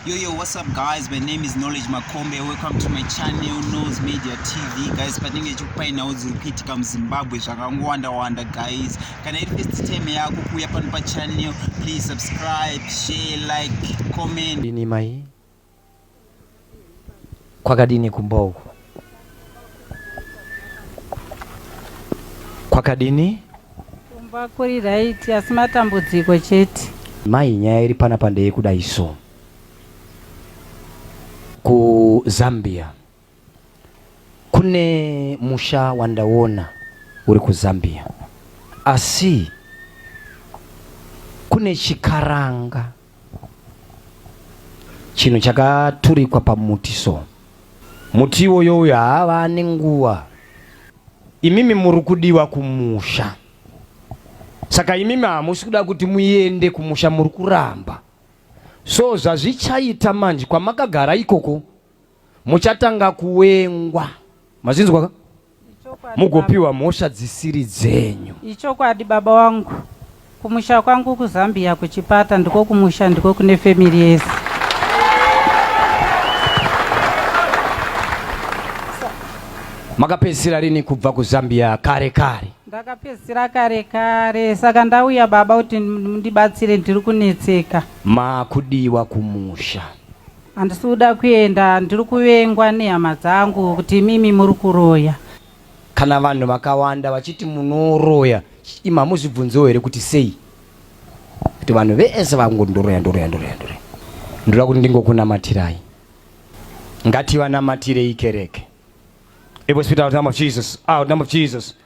Yo, yo, what's up guys? My name is Knowledge Makombe. Welcome to my channel, Nose Media TV. Guys, patinenge chikupainawo dziri kuitika muZimbabwe zvakangowanda-wanda guys. Kana iri first time yako kuuya pano pachannel, please subscribe, share, like, comment. Ini mai Kwakadini kumba uku? Kwakadini? Kumba kuri right asi matambudziko chete. Mai nyaya iri pana pandeye kuda iso. Ku Zambia kune musha wandaona uri ku Zambia asi kune chikaranga chinhu chakaturikwa pamuti so muti iwoyo uyo haava ane nguva imimi muri kudiwa kumusha saka imimi hamusi kuda kuti muende kumusha muri kuramba so zvazvichaita manje kwamakagara ikoko muchatanga kuwengwa mazvinzwa ka mugopiwa mhosva dzisiri dzenyu ichokwadi baba wangu kumusha kwangu kuzambia kuchipata ndiko kumusha ndiko kune family yese makapedzisira rini kubva kuzambia kare kare ndakapedzisira kare kare saka ndauya baba kuti ndibatsire ndiri kunetseka makudiwa kumusha Handisi kuda kuenda, ndiri kuvengwa nehama dzangu kuti imimi muri kuroya. Kana vanhu vakawanda vachiti munoroya, imi hamuzvibvunzewo here kuti sei? Kuti vanhu vese vangoti ndoroya, ndoroya, ndoroya, ndoroya. Ndoda kuti ndingokunamatirai. Ngativanamatirei kereke. It was without the name of Jesus. Out, name of Jesus.